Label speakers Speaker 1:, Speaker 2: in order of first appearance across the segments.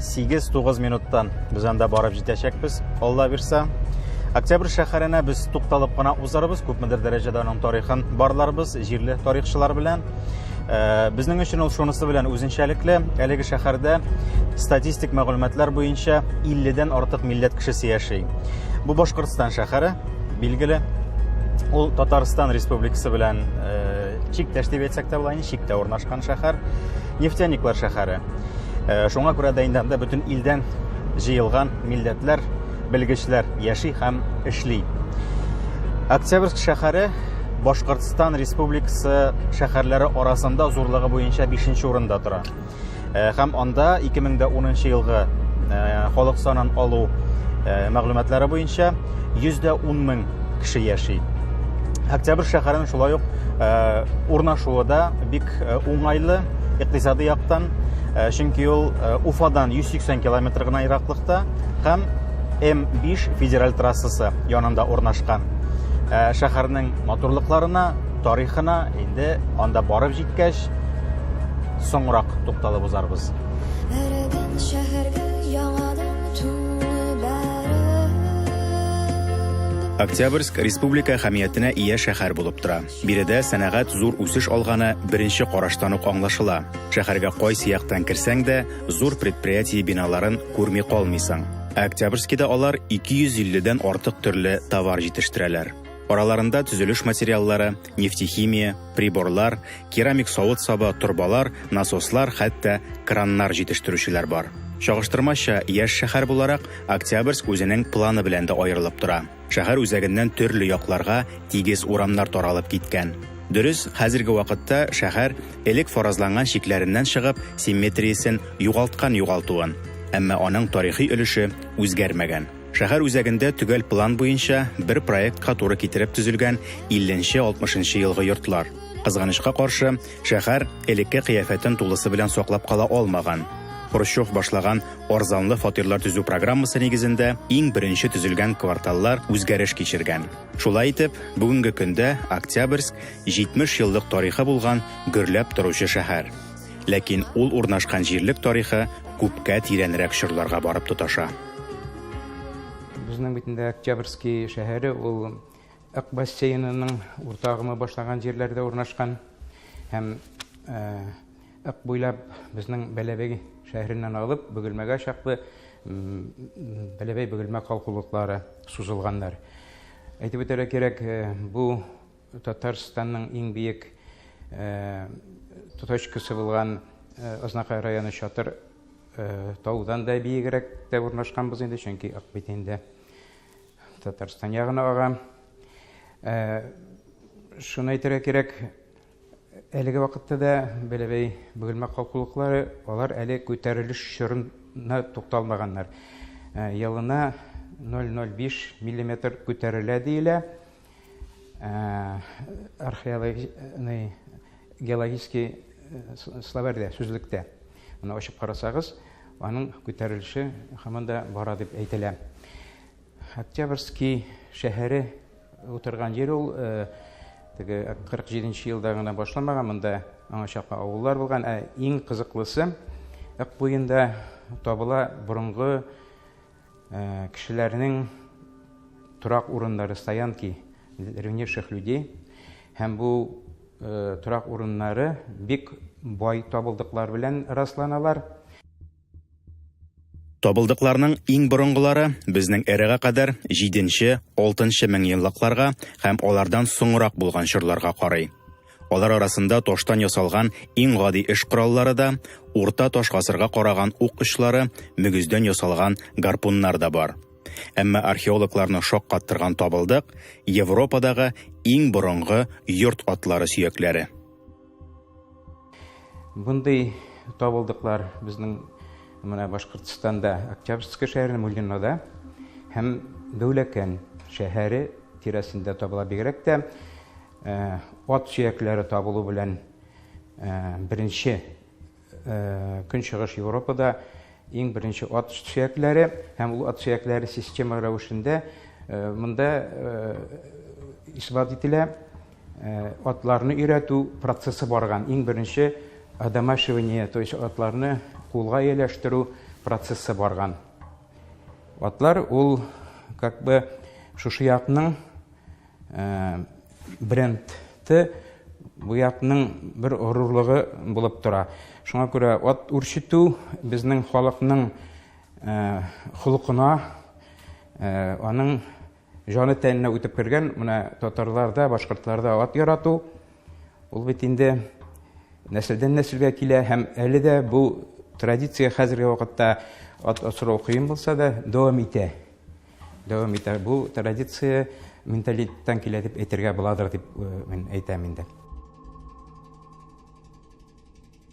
Speaker 1: 8-9 минуттан без анда барып җитәчәкбез, Алла бирсә. Октябрь шәһәренә без тукталып кына узарбыз, күпмедер дәрәҗәдә аның тарихын барларбыз, җирле тарихчылар белән. Э, безнең өчен ул шунысы белән үзенчәлекле, әлеге шәһәрдә статистик мәгълүматлар буенча 50-дән артык милләт кешесе яши. Бу Башкортстан шәһәре, билгеле. Ул Татарстан Республикасы белән э, чиктәш дип әйтсәк тә була, чиктә урнашкан шәһәр. нефтяниклар шәһәре. Э, шуңа күрә дә инде анда бөтен илдән җыелган милләтләр, белгечләр яши һәм эшли. Октябрьск шәһәре Башкортстан Республикасы шәһәрләре арасында зурлыгы буенча 5 урында тора. Э, һәм анда 2010 елгы халык санын алу мәгълүматлары буенча 110 мең кеше яши. Октябрь шәһәрен шулай ук э, урнашуы да бик э, уңайлы икътисади яктан, э, чөнки ул Уфадан 180 километр гына ераклыкта һәм М5 федераль трассасы янында урнашкан. Шәһәрнең матурлыкларына, тарихына инде анда барып җиткәч соңрак тукталып узарбыз. Эреген шәһәргә Октябрьск республика әһәмиятенә ия шәһәр булып тора. Биредә сәнәгать зур үсеш алганы беренче караштан ук аңлашыла. Шәһәргә кайсы яктан керсәң дә, зур предприятие биналарын күрми калмыйсың. Октябрьскида алар 250 дән артык төрле товар җитештерәләр. Араларында төзелеш материаллары, нефтехимия, приборлар, керамик савыт-саба, торбалар, насослар, хәтта краннар җитештерүчеләр бар. Чагыштырмача, яшь шәһәр буларак, Октябрьск үзенең планы белән дә аерылып тора. Шәһәр үзәгеннән төрле якларга тигез урамнар таралып киткән. Дөрес, хәзерге вакытта шәһәр, элек фаразланган чикләреннән чыгып, симметриясен югалткан югалтуын, әмма аның тарихи өлеше үзгәрмәгән. Шәһәр үзәгендә төгәл план буенча, бер проектка туры китереп төзелгән 50-60 елгы йортлар. Кызганычка каршы, шәһәр элекке кыяфәтен тулысы белән саклап кала алмаган. Хрущев башлаган арзанлы фатирлар төзү программасы нигезендә иң беренче төзелгән кварталлар үзгәреш кичергән. Шулай итеп, бүгенге көндә Октябрьск 70 еллык тарихы булган гөрләп торучы шәһәр. Ләкин ул урнашкан җирлек тарихы күпкә тирәнрәк чорларга барып тоташа. Безнең
Speaker 2: бит инде Октябрьский шәһәре ул Ак бассейнының урта агымы башланган җирләрдә урнашкан һәм Ак э, буйлап безнең Бәләбәй шәһәреннән алып Бөгелмәгә чаклы Бәләбәй Бөгелмә калкулыклары сузылганнар. Әйтеп үтәргә кирәк, э, бу Татарстанның иң биек точкасы булган Азнакай районы Чатыр таудан да биегрәк тә урнашканбыз инде, чөнки Акбит инде Татарстан ягына ага. Шуны әйтергә кирәк, әлеге вакытта да Бәләбәй бөгелмә калкулыклары, алар әле күтәрелеш чорына тукталмаганнар. Елына 0,05 мм күтәрелә диелә. Э, археологичный геологический э, словарьдә сүзлектә аны ачып карасагыз аның күтәрелеше һаман да бара дип әйтелә октябрьский шәһәре утырган җир ул э, теге кырык җиденче елда гына башламаган монда аңа чаклы авыллар булган ә иң кызыклысы ык буенда табыла борынгы Э, кешеләрнең торак урыннары стоянки древнейших людей һәм бу э, торак урыннары бик бай табылдыклар белән расланалар
Speaker 1: Табылдыкларның иң борынгылары безнең эрага кадәр 7-6 мең еллыкларга һәм алардан соңрак булган чорларга карый. Алар арасында таштан ясалган иң гади эш кораллары да, урта таш гасырга караган ук очлары, мөгездән ясалган гарпуннар да бар. Әмма археологларны шаккаттырган табылдык Европадагы иң борынгы йорт атлары сөякләре.
Speaker 2: Мондый табылдыклар безнең менә Башкортстанда Октябрьск шәһәрендә Муллинада һәм Дәүләкән шәһәре тирәсендә табыла бигрәк тә Ат сөякләре табылу белән беренче Көнчыгыш Европада иң беренче ат сөякләре һәм ул ат сөякләре система рәвешендә монда исбат ителә. Атларны өйрәтү процессы барган. Иң беренче одомашивание, то есть атларны кулга ияләштерү процессы барган. Атлар ул как бы шушы якның брендты бу ятның бер горурлыгы булып тора. Шуңа күрә ат үрчетү безнең халыкның холкына, аның җаны тәненә үтеп кергән. Менә татарларда, башкортларда ат ярату ул бит инде нәселдән нәселгә килә һәм әле дә бу традиция хәзерге вакытта ат асрау кыен булса да дәвам итә. Дәвам итә. Бу традиция менталитеттан килә дип әйтергә буладыр дип мин әйтәм инде.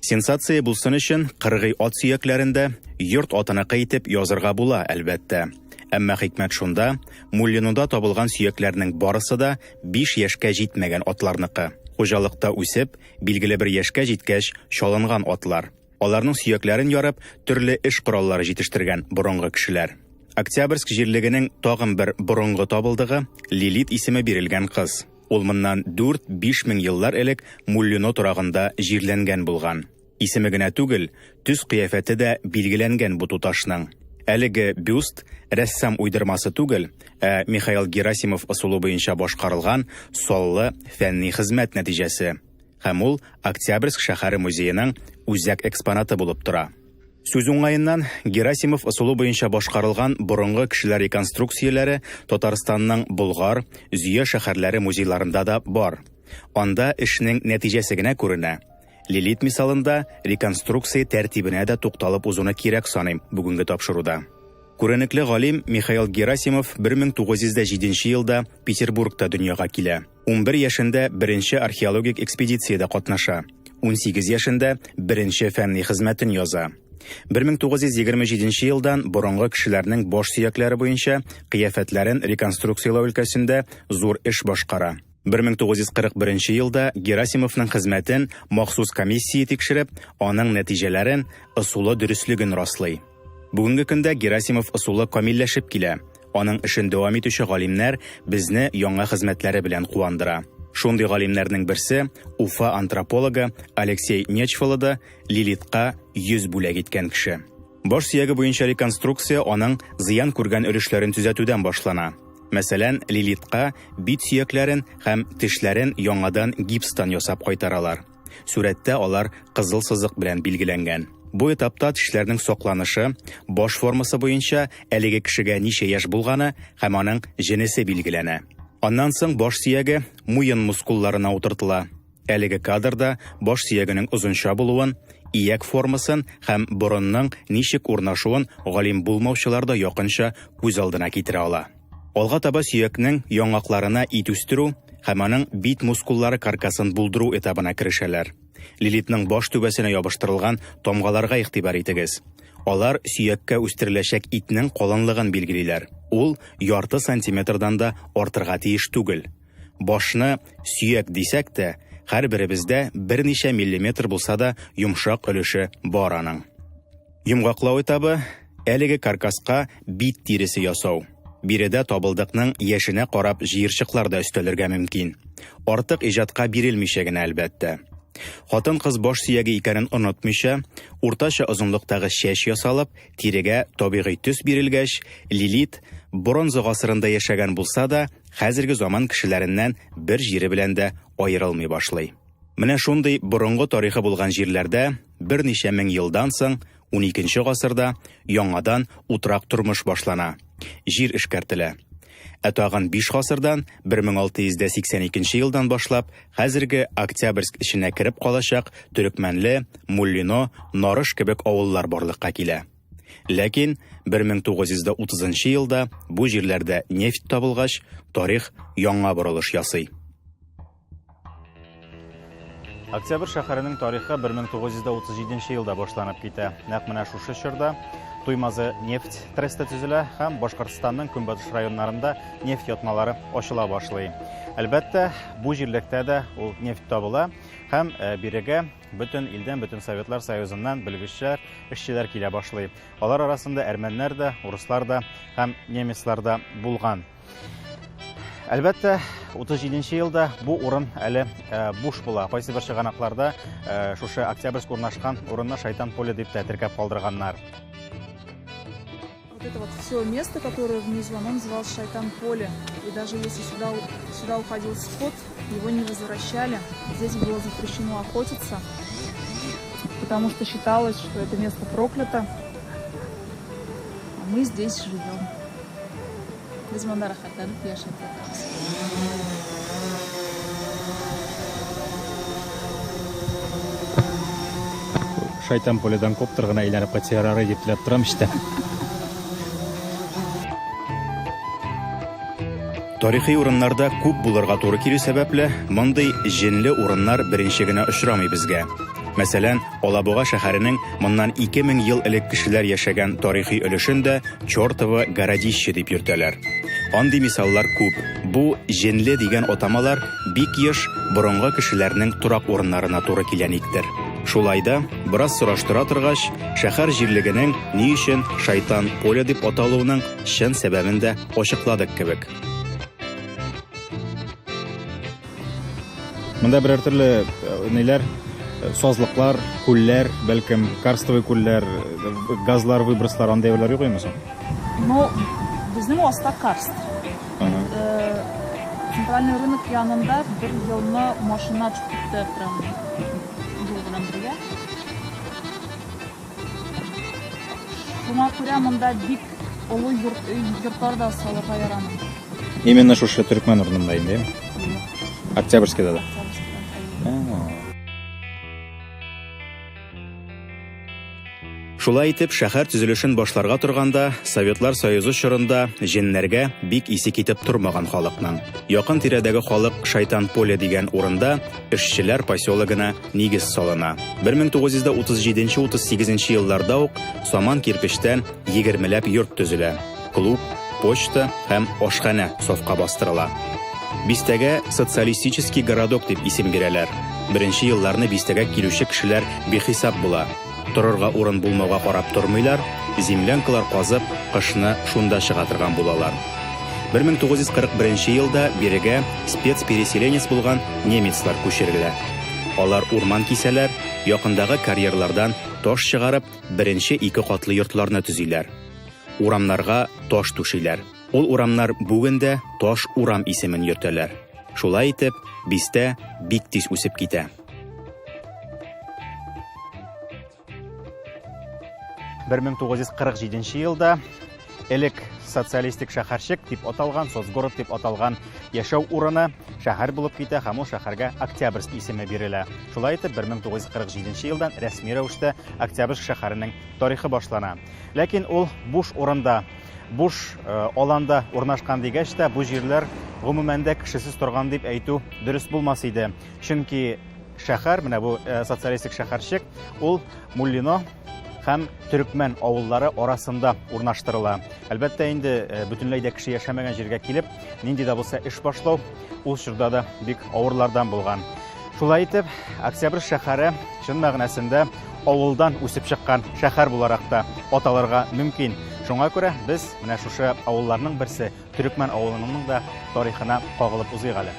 Speaker 1: Сенсация булсын өчен кыргый ат сөякләрендә йорт атыныкы итеп язырга була, әлбәттә. Әмма хикмәт шунда, Муллинуда табылган сөякләрнең барысы да 5 яшькә җитмәгән атларныкы. Хуҗалыкта үсеп, билгеле бер яшькә җиткәч чалынган атлар. Аларның сөякләрен ярып, төрле эш кораллары җитештергән борынгы кешеләр. Октябрьск җирлегенең тагын бер борынгы табылдыгы, Лилит исеме бирелгән кыз. Ул моннан 4-5 мең еллар элек Муллино торагында җирләнгән булган. Исеме генә түгел, төс-кыяфәте дә билгеләнгән бу туташның. Әлеге бюст рәссам уйдырмасы түгел, ә Михаил Герасимов ысулы буенча башкарылган саллы фәнни хезмәт нәтиҗәсе. һәм ул Октябрьск шәһәре музееның үзәк экспонаты булып тора. Сүз уңаеннан, Герасимов ысулы буенча башкарылган борынгы кешеләр реконструкцияләре Татарстанның Болгар, Зөя шәһәрләре музейларында да бар. Анда эшнең нәтиҗәсе генә күренә. Лилит мисалында реконструкция тәртибенә дә тукталып узуны кирәк саныйм бүгенге тапшыруда. Күренекле галим Михаил Герасимов 1907 елда Петербургта дөньяга килә. 11 яшендә беренче археологик экспедициядә катнаша. 18 яшендә беренче фәнни хезмәтен яза. 1927 елдан борынгы кешеләрнең баш сөякләре буенча кыяфәтләрен реконструкцияләү өлкәсендә зур эш башкара. 1941 елда Герасимовның хезмәтен махсус комиссия тикшереп, аның нәтиҗәләрен, ысулы дөреслеген раслый. Бүгенге көндә Герасимов ысулы камилләшеп килә. Аның эшен дәвам итүче галимнәр безне яңа хезмәтләре белән куандыра. Шундый галимнәрнең берсе, Уфа антропологы Алексей Нечфалы да Лилитка йөз бүләк иткән кеше. Баш сөяге буенча реконструкция аның зыян күргән өлешләрен төзәтүдән башлана. Мәсәлән, Лилитка бит сөякләрен һәм тешләрен яңадан гипстан ясап кайтаралар. Сүрәттә алар кызыл сызык белән билгеләнгән. Бу этапта тешләрнең сокланышы, баш формасы буенча әлеге кешегә ничә яшь булганы һәм аның җенесе билгеләнә. Аннан соң баш сөяге муен мускулларына утыртыла. Әлеге кадрда баш сөягенең озынча булуын, ияк формасын һәм борынның ничек урнашуын галим булмаучылар да якынча күз алдына китерә ала. Алга таба сөякнең яңакларына ит үстерү һәм аның бит мускуллары каркасын булдыру этабына керешәләр. Лилитның баш түбәсенә ябыштырылган тамгаларга игътибар итегез. Алар сөяккә үстереләчәк итнең калынлыгын билгелиләр. Ул ярты сантиметрдан да артырга тиеш түгел. Башны сөяк дисәк тә, һәрберебездә берничә миллиметр булса да йомшак өлеше бар аның. Йомгаклау этабы, әлеге каркаска бит тиресе ясау. Биредә табылдыкның яшенә карап җыерчыклар да өстәлергә мөмкин. Артык иҗатка бирелмичә генә әлбәттә. Хатын-кыз баш сөяге икәнен онытмыйча, уртача озынлыктагы чәч ясалып, тирегә табигый төс бирелгәч, Лилит бронза гасырында яшәгән булса да, хәзерге заман кешеләреннән бер җире белән дә аерылмый башлый. Менә шундый борынгы тарихы булган җирләрдә берничә мең елдан соң, 12 гасырда, яңадан утрак тормыш башлана. Җир эшкәртелә. Ә тагын 5 гасырдан, 1682 елдан башлап, хәзерге Октябрьск эченә кереп калачак Төрекмәнле, Муллино, Нарыш кебек авыллар барлыкка килә. Ләкин 1930 елда бу җирләрдә нефть табылгач, тарих яңа борылыш ясый. Октябрь шәһәренең тарихы 1937 елда башланып китә. Нәкъ менә шушы чорда Туймазы нефть тресты төзелә һәм Башкортстанның көнбатыш районнарында нефть ятмалары ачыла башлый. Әлбәттә, бу җирлектә дә ул нефть табыла һәм э, бирегә бөтен илдән, бөтен Советлар Союзыннан белгечләр, эшчеләр килә башлый. Алар арасында әрмәннәр дә, урыслар да һәм немецлар да булган. Әлбәттә, 37 нче елда бу урын әле э, буш була. Кайсы бер чыганакларда э, шушы Октябрьск урнашкан урынны Шайтан поле дип тә теркәп калдырганнар.
Speaker 3: Вот это вот все место, которое внизу, оно называлось Шайтан поле. И даже если сюда, сюда уходил скот, его не возвращали. Здесь было запрещено охотиться, потому что считалось, что это место проклято. А мы здесь живем. Без монда
Speaker 1: рәхәтләнеп яшәп ятабыз. Шайтан пулядан коптер гына әйләнеп кайтса ярар иде дип теләп торам эчтән. Тарихи урыннарда күп булырга туры килү сәбәпле, мондый җенле урыннар беренче генә очрамый безгә. Мәсәлән, Алабуга шәһәренең моннан 2000 ел элек кешеләр яшәгән тарихи өлешен дә Чёртово городище дип йөртәләр. Андый мисаллар күп. Бу Җенле дигән атамалар бик еш борынгы кешеләрнең торак урыннарына туры килә никтер. Шулай да, бераз сораштыра торгач, шәһәр җирлегенең ни өчен Шайтан поле дип аталуының чын сәбәбен дә ачыкладык кебек. Монда берәр төрле ниләр сазлыклар, күлләр, бәлкем карстовый күлләр, газлар, выброслар андый әйберләр юк имесен? Ну,
Speaker 3: безнең аста карст. Центральный рынок янында бер елны машина төшеп китте прям юл белән бергә. Шуңа күрә монда бик олы йорт, өй, йортлар да салырга ярамый. Именно шушы
Speaker 1: төркмән урынында инде. Юк, Октябрьскийда да. Казахстаннан әйе. Ә. Шулай итеп, шәһәр төзелешен башларга торганда, Советлар Союзы чорында җеннәргә бик исе китеп тормаган халыкның. Якын тирәдәге халык Шайтан поле дигән урында эшчеләр поселогына нигез салына. 1937-38 нче елларда ук саман кирпечтән егермеләп йорт төзелә. Клуб, почта һәм ашханә сафка бастырыла. Бистәгә социалистический городок дип исем бирәләр. Беренче елларны бистәгә килүче кешеләр бихисап була. Торырга урын булмауга карап тормыйлар, землянкалар казып, кышны шунда чыга торган булалар. 1941 елда бирегә спецпереселенец булган немецлар күчерелә. Алар урман кисәләр, якындагы карьерлардан таш чыгарып, беренче ике катлы йортларны төзиләр. Урамнарга таш түшиләр. Ул урамнар бүген дә Таш урам исемен йөртәләр. Шулай итеп, бистә бик тиз үсеп китә. Бер мең тугыз йөз кырык җиденче елда элек социалистик шәһәрчек дип аталган, соцгород дип аталган яшәү урыны шәһәр булып китә һәм ул шәһәргә Октябрьск исеме бирелә. Шулай итеп, 1947 елдан рәсми рәвештә Октябрьск шәһәренең тарихы башлана. Ләкин ул буш урында, буш э, аланда урнашкан дигәч тә, бу җирләр гомумән дә кешесез торган дип әйтү дөрес булмас иде. Чөнки шәһәр, менә бу э, социалистик шәһәрчек, ул Муллино һәм төрекмән авыллары арасында урнаштырыла. Әлбәттә инде э, бөтенләй дә кеше яшәмәгән җиргә килеп, нинди дә булса эш башлау ул чорда да бик авырлардан булган. Шулай итеп, Октябрь шәһәре чын мәгънәсендә авылдан үсеп чыккан шәһәр буларак та аталырга мөмкин. Шуңа күрә без менә шушы авылларның берсе Төрекмән авылыныңның да тарихына кагылып узыйк әле.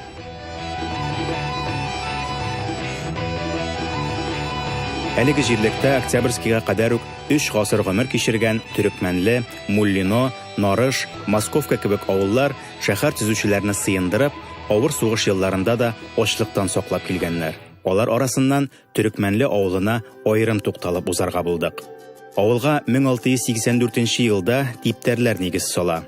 Speaker 1: Әлеге җирлектә Октябрьскийга кадәр үк өч гасыр гомер кичергән Төрекмәнле, Муллино, Нарыш, Московка кебек авыллар шәһәр төзүчеләрне сыендырып, авыр сугыш елларында да ачлыктан саклап килгәннәр. Алар арасыннан Төрекмәнле авылына аерым тукталып узарга булдык. Авылга 1684 елда типтәрләр нигез сала.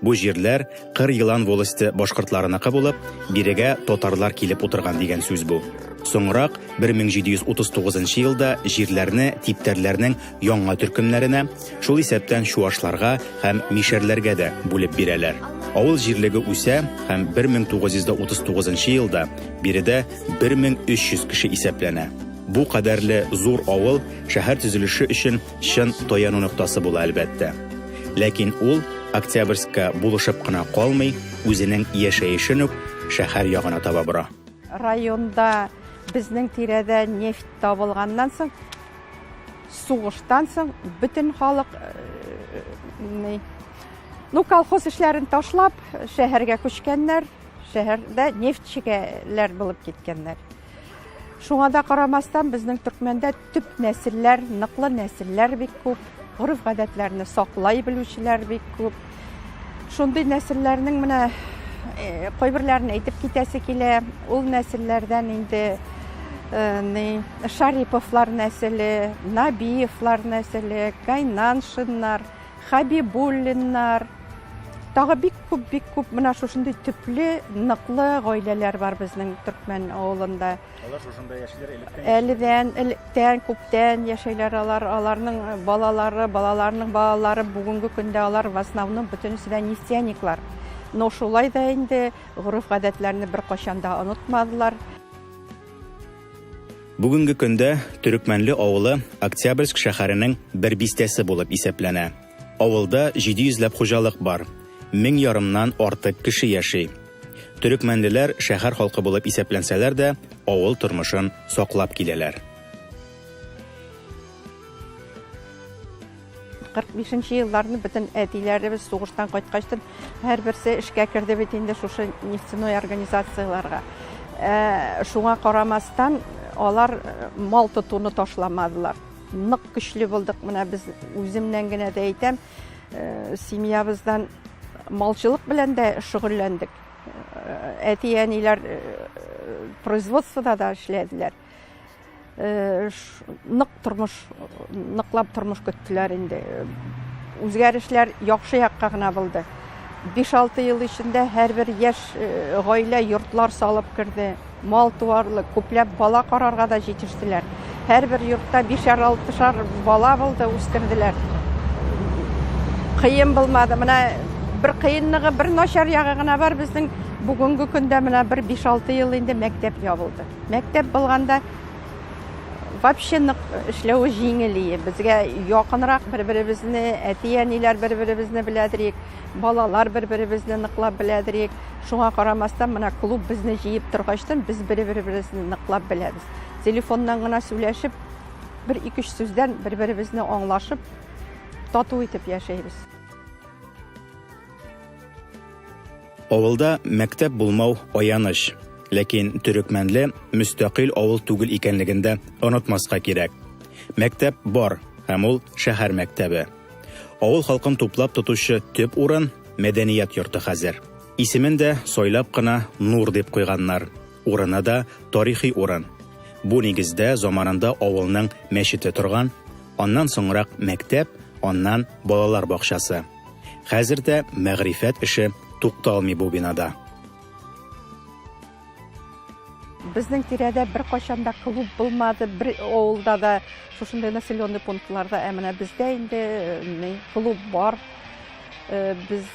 Speaker 1: Бу җирләр Кыр Елан волосте башкортларыныкы булып, бирегә татарлар килеп утырган дигән сүз бу. Соңрак 1739 елда җирләрне типтәрләрнең яңа төркемнәренә, Шул исәптән чуашларга һәм мишәрләргә дә бүлеп бирәләр. Авыл җирлеге үсә һәм 1939 елда биредә 1300 кеше исәпләнә. Бу кадәрле зур авыл шәһәр төзелеше өчен чын таяну ноктасы була, әлбәттә. Ләкин ул Октябрьскка булышып кына калмый, үзенең яшәешен үк шәһәр ягына таба бора. Районда
Speaker 4: безнең тирәдә нефть табылганнан соң, Сугыштан соң бөтен халык Ну, колхоз эшләрен ташлап, шәһәргә күчкәннәр, шәһәрдә нефтьчегәләр булып киткәннәр. Шуңа да карамастан, безнең төркмәндә төп нәселләр, ныклы нәселләр бик күп, гореф-гадәтләрне саклай белүчеләр бик күп. Шундый нәселләрнең менә кайберләрен әйтеп китәсе килә. Ул нәселләрдән инде Шариповлар нәселе, Набиевлар нәселе, Кайнаншиннар, Хабибуллиннар, тагы бик күп, бик күп менә шушындый төпле, ныклы гаиләләр бар безнең төркмән авылында. Алар
Speaker 1: шушында яшиләр электән? Әледән, электән,
Speaker 4: күптән яшәйләр алар. Аларның э, балалары, балаларның балалары бүгенге көндә алар в основном бөтенесе дә нефтяниклар. Но шулай да инде гореф-гадәтләрне беркайчан да онытмадылар.
Speaker 1: Бүгенге көндә Төрекмәнле авылы Октябрьск шәһәренең бер бистәсе булып исәпләнә. Авылда 700 ләп хуҗалык бар. Мең ярымнан артык кеше яши. Төрекмәнлеләр шәһәр халкы булып исәпләнсәләр дә, авыл тормышын саклап киләләр.
Speaker 4: 45 нче елларны бөтен әтиләребез сугыштан кайткачтын һәрберсе эшкә керде бит инде шушы нефтяной организацияләргә. Ә, шуңа карамастан, алар э, мал тотуны ташламадылар. Нык көчле булдык, менә без үземнән генә дә әйтәм, Э, семьябыздан малчылык белән дә шөгыльләндек э, әти әниләр э, производствода да эшләделәр нык тормыш ныклап тормыш көттеләр инде үзгәрешләр яхшы якка гына булды 5-6 ел эчендә һәрбер яшь гаилә йортлар салып керде Мал туарлык, күпләп бала карарга да җитештеләр. Һәрбер йортта бишәр-алтышар бала булды, үстерделәр. Кыен булмады. Менә бер кыенлыгы, бер начар ягы гына бар безнең бүгенге көндә менә бер 5-6 ел инде мәктәп ябылды. Мәктәп булганда вообще нык эшләве җиңел иде. Безгә якынрак бер-беребезне, әти-әниләр бер-беребезне беләдер идек. Балалар бер-беребезне ныклап беләдер ек. Шуңа карамастан, менә клуб безне җыеп торгачтын, без бер-беребезне ныклап беләбез. Телефоннан гына сүләшеп, бер-икеш сүздән бер-беребезне аңлашып, тату итеп яшәйбез.
Speaker 1: Авылда мәктәп булмау, аяныч. Ләкин Төрекмәнле мөстәкыйль авыл түгел икәнлеген дә онытмаска кирәк. Мәктәп бар, һәм ул шәһәр мәктәбе. Авыл халкын туплап тотучы төп урын мәдәният йорты хәзер. Исемен дә сойлап кына Нур дип куйганнар. Урыны да тарихи урын. Бу нигездә заманында авылның мәчете торган, аннан соңрак мәктәп, аннан балалар бакчасы. Хәзер дә мәгърифәт эше тукталмый бу бинада.
Speaker 4: Безнең тирәдә беркайчан да клуб булмады, бер авылда да, шушындый населенный пунктларда, ә менә бездә инде э, клуб бар. Э, без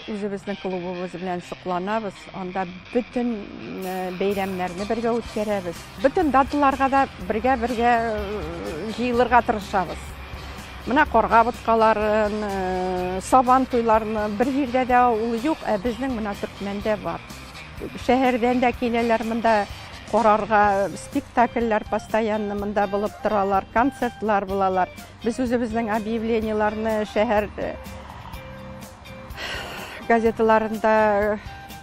Speaker 4: үзебезнең клубыбыз белән сокланабыз. Анда бөтен э, бәйрәмнәрне бергә үткәрәбез. Бөтен даталарга да бергә-бергә җыелырга тырышабыз. Менә карга боткаларын, сабан туйларын бер җирдә дә ул юк, ә безнең менә Төркмәндә бар. Шәһәрдән дә киләләр монда карарга, спектакльләр постоянно монда булып торалар, концертлар булалар. Без үзебезнең объявлениеләрне шәһәр э, газеталарында э,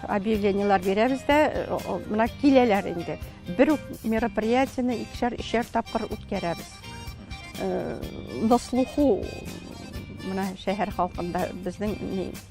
Speaker 4: объявлениеләр бирәбез дә, э, менә киләләр инде. Бер үк мероприятияне икешәр, өчәр тапкыр үткәрәбез. На слуху менә шәһәр халкында безнең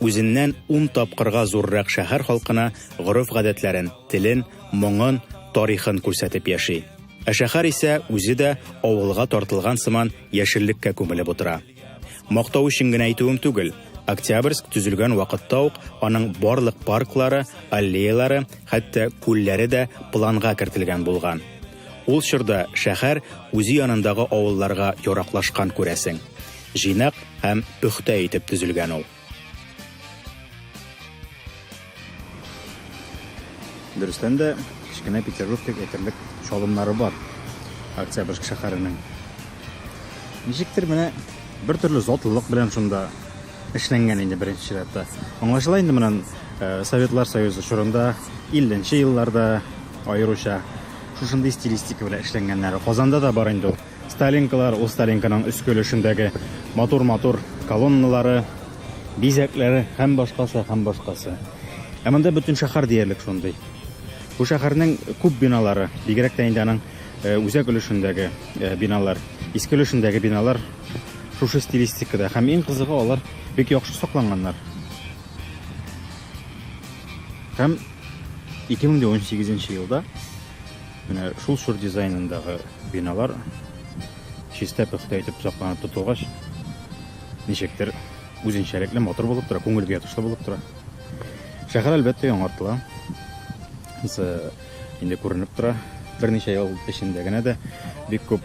Speaker 1: Үзеннән ун тапкырга зуррак шәһәр халкына гореф-гадәтләрен, телен, моңын, тарихын күрсәтеп яши. Ә шәһәр исә үзе дә авылга тартылган сыман яшеллеккә күмелеп утыра. Мактау өчен генә әйтүем түгел, Октябрьск төзелгән вакытта ук аның барлык парклары, аллеялары, хәтта күлләре дә планга кертелгән булган. Ул чорда шәһәр үзе янындагы авылларга яраклашкан күрәсең. Җыйнак һәм пөхтә итеп төзелгән ул. Дөрестән дә, кечкенә Петербург дип әйтерлек чалымнары бар Октябрьск шәһәренең. Ничектер менә бер төрле затлылык белән шунда эшләнгән инде беренче чиратта. Аңлашыла инде моннан э, Советлар Союзы чорында 50 нче елларда аеруча шушындый стилистика белән эшләнгәннәре. Казанда да бар инде ул. Сталинкалар, ул Сталинканың өске өлешендәге матур-матур колонналары, бизәкләре һәм башкасы, һәм башкасы. Ә монда бөтен шәһәр диярлек шундый. Бу шәһәрнең күп биналары, бигрәк тә инде аның э, үзәк өлешендәге э, биналар, иске өлешендәге биналар Шушы стилистикада. Һәм иң кызыгы, алар бик яхшы сакланганнар. Һәм 2018 елда менә шул чор дизайнындагы биналар чиста пөхтә итеп сакланып тотылгач, ничектер үзенчәлекле матур булып тора, күңелгә ятышлы булып тора. Шәһәр әлбәттә яңартыла. Инде күренеп тора, берничә ел эчендә генә дә бик күп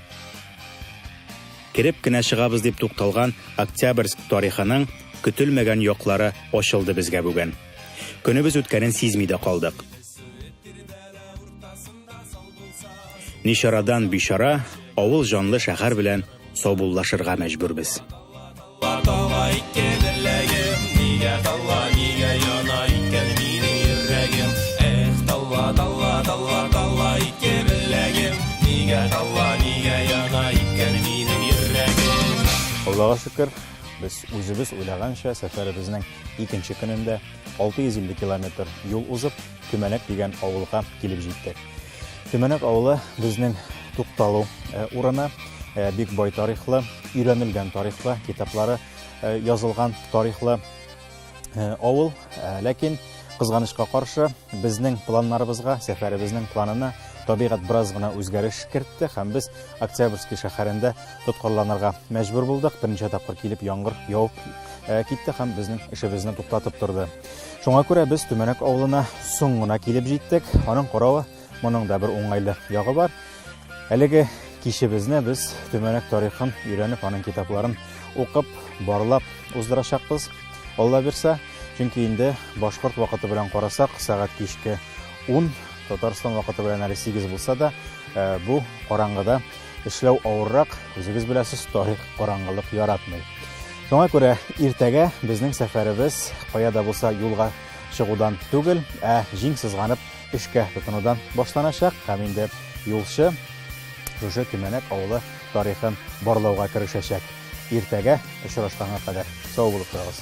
Speaker 1: Кереп кенә чыгабыз дип тукталган Октябрьск тарихының көтелмәгән яклары ачылды безгә бүген. Көнебез үткәнен сизми дә калдык. Ничарадан бичара авыл җанлы шәһәр белән саубуллашырга мәҗбүрбез. Аллага шөкер, без үзебез уйлаганча сәфәребезнең икенче көнендә 650 километр юл узып, Көмәнәк дигән авылга килеп җиттек. Төмәнәк авылы безнең тукталу э, урыны, э, бик бай тарихлы, өйрәнелгән тарихлы, китаплары э, язылган тарихлы авыл. Ләкин кызганычка каршы безнең планнарыбызга, сәфәребезнең планына табигать бераз гына үзгәреш кертте һәм без Октябрьский шәһәрендә тоткарланырга мәҗбүр булдык. Берничә тапкыр килеп яңгыр явып китте һәм безнең эшебезне туктатып торды. Шуңа күрә без Төмәнәк авылына соң гына килеп җиттек. Аның каравы моның да бер уңайлы ягы бар. Әлеге кичебезне без Төмәнәк тарихын өйрәнеп, аның китапларын укып, барлап уздырачакбыз. Алла бирсә, чөнки инде башкорт вакыты белән карасак, сәгать кичке 10, Татарстан вакыты белән әле 8 булса да, э, бу караңгыда Эшләү авыррак, үзегез беләсез, тарих караңгылык яратмый. Шуңа күрә иртәгә безнең сәфәребез кая да булса юлга чыгудан түгел, ә җиң сызганып эшкә тотынудан башланачак һәм инде юлчы шушы Төмәнәк авылы тарихын барлауга керешәчәк. Иртәгә очрашканга кадәр сау булып торыгыз.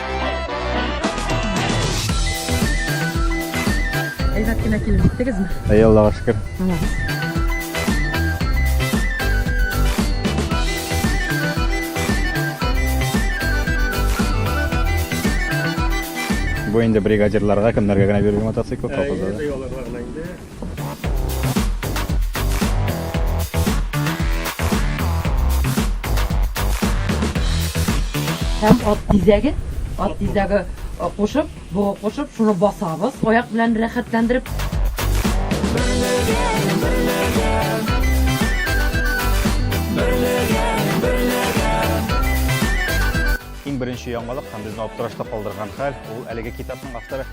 Speaker 5: Әйбәт кенә килеп җиттегезме? Әй, Аллага шөкер.
Speaker 1: Бу инде бригадирларга, кемнәргә генә бирелгән мотоцикл, колхозларга.
Speaker 5: Һәм ат тизәге, ат тизәге кушып, бугы кушып, шуны басабыз, аяк белән рәхәтләндереп.
Speaker 1: Иң беренче яңалык һәм безне аптырашта калдырган хәл, ул әлеге китапның авторы